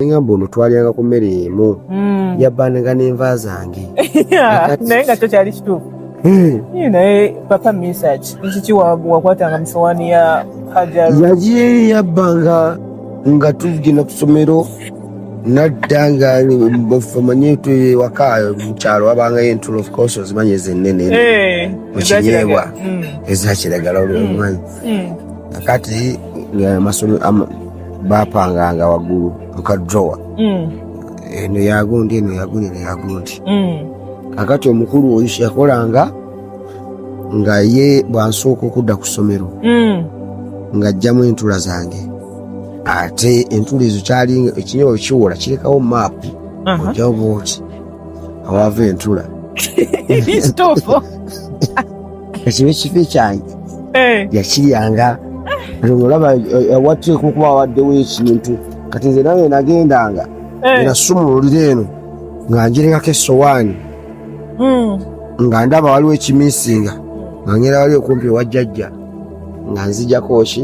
ngamba ono twalyanga ku mmere emu hmm. yabbanaga n'enva zange naye nga kyo kyali kituufu hmm. naye papa misaki nkiki wakwatanga mu sowaani ya hajar yagiye yabbanga nga tugenda ku ssomero nadda nga famanye ewaka mukyalo wabangayo entulo of course ozimanyi ezennene eh, mu kinyeebwa hmm. ezakiragala olwomanyi kakati bapanganga waggulu muka drowa mm. eno yagundi eno yagundi eno yagundi mm. kakati omukulu oyo yakolanga nga ye bwansooka okudda ku ssomero mm. ng'ajjamu entula zange ate entula ezo kyali ekinyobo kiwola kirekawo maapu ojawo bwoti awaava entula ekiba ekifi kyange eh. yakiryanga olaba eh, watekukuba waddewo ekintu kati nze nawe nagendanga eh. nasumululira eno nga njiringako esowaani hmm. nga ndaba waliwo ekimisinga nga ngera wali okumpi wajjajja nga nzijako ki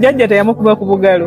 jajja teyamukuba ku bugalo